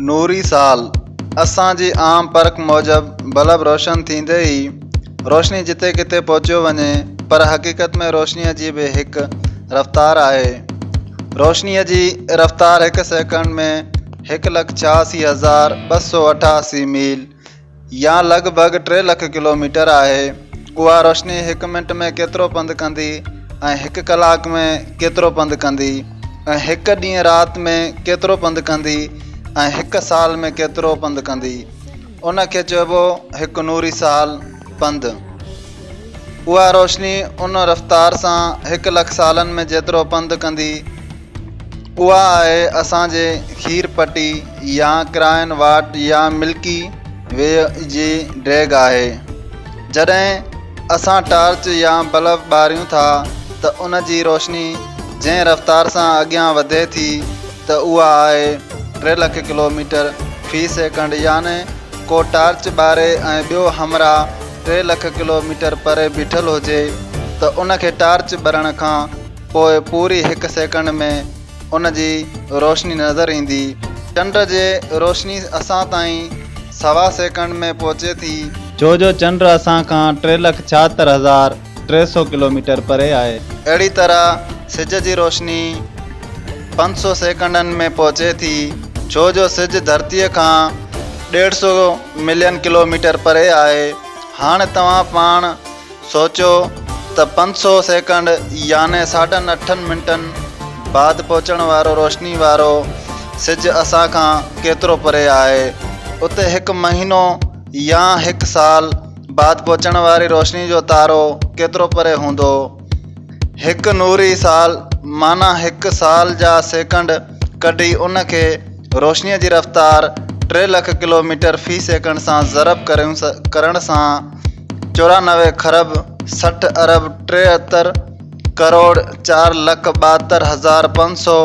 نوري سال، اسان جي عام پرک موجب بلب روشن ٿيندي ئي روشني جتي ڪٿي پهچيو وڃي پر حقيقت ۾ روشنيء جي به هڪ رفتار آهي. روشنيء جي رفتار هڪ سيڪنڊ ۾ هڪ لک ڇهاسي هزار ٻه سؤ اٺاسي ميل يا لڳ ڀڳ ٽي لک ڪلوميٽر آهي. اها روشني هڪ منٽ ۾ ڪيترو پنڌ ڪندي ۽ هڪ ڪلاڪ ۾ ڪيترو پنڌ ڪندي ۽ هڪ ڏينهن رات ۾ ڪيترو پنڌ ڪندي ۽ هڪ سال ۾ ڪيترو پنڌ ڪندي. ان کي چئبو هڪ نوري سال، پنڌ. اها روشني ان رفتار سان هڪ لک سالن ۾ جيترو پنڌ ڪندي، اها آهي اسان جي کير پٽي يا ڪراين واٽ يا ملڪي وي جي ڊيگهه آهي. جڏهن اسان ٽارچ يا بلب ٻاريون ٿا ته ان جي روشني جنهن رفتار سان اڳيان وڌي ٿي ته اها آهي ٽي لک ڪلوميٽر في سيڪنڊ يعني ڪو ٽارچ ٻاري ۽ ٻيو همراهه ٽي لک ڪلوميٽر پري بيٺل هجي ته ان کي ٽارچ ٻرڻ کان پوء پوري هڪ سيڪنڊ ۾ ان جي روشني نظر ايندي. چنڊ جي روشني اسان تائين سوا سيڪنڊ ۾ پهچي ٿي. ڇو جو چنڊ اسان کان ٽي لک ڇاهتر هزار ٽي سؤ ڪلوميٽر پري آهي. اهڙي طرح سج جي روشني پنج سؤ سيڪنڊن ۾ پهچي ٿي، ڇو جو سج ڌرتيء کان ڏيڍ سؤ ملين ڪلوميٽر پري آهي. هاڻ توهان پاڻ سوچيو ته پنج سؤ سيڪنڊ يعني ساڍن اٺن منٽن بعد پهچڻ وارو روشني وارو سج اسان کان ڪيترو پري آهي. اتي هڪ مهينو يا هڪ سال. بعد پهچڻ واري روشني جو تارو ڪيترو پري هوندو؟ هڪ نوري سال معنيٰ هڪ سال جا سيڪنڊ ڪڍي ان کي روشنيء جي رفتار ٽي لک ڪلو ميٽر في سيڪنڊ سان ضرب ڪرڻ سان چورانوي کرب سٺ ارب ٽيهتر ڪروڙ چار لک ٻاهتر هزار پنج سؤ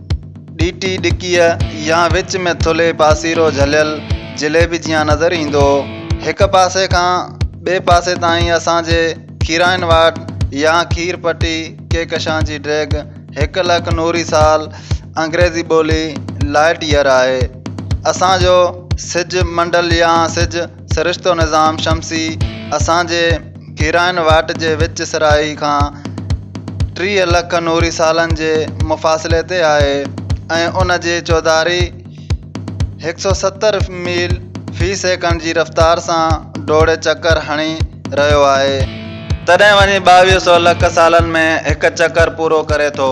ڏيٽي ڏڪيء يا وچ ۾ ٿلهي پاسيرو جهليل جليبي جيان نظر ايندو هو. هڪ پاسي کان ٻئي پاسي تائين اسان جي کيرائين واٽ يا کير پٽي ڪهڪشان جي ڊيگهه هڪ لک نوري سال، انگريزي ٻولي، Light Year، آهي. اسان جو سج منڊل يا سج سرشتو نظام شمسي اسان جي ڪيرائن واٽ جي وچ سرائي کان ٽيهه لک نوري سالن جي مفاصلي تي آهي ۽ ان جي چوڌاري هڪ سؤ ستر ميل في سيڪنڊ جي رفتار سان ڊوڙي چڪر هڻي رهيو آهي تڏهن وڃي ٻاويهه سؤ لک سالن ۾ هڪ چڪر پورو ڪري ٿو.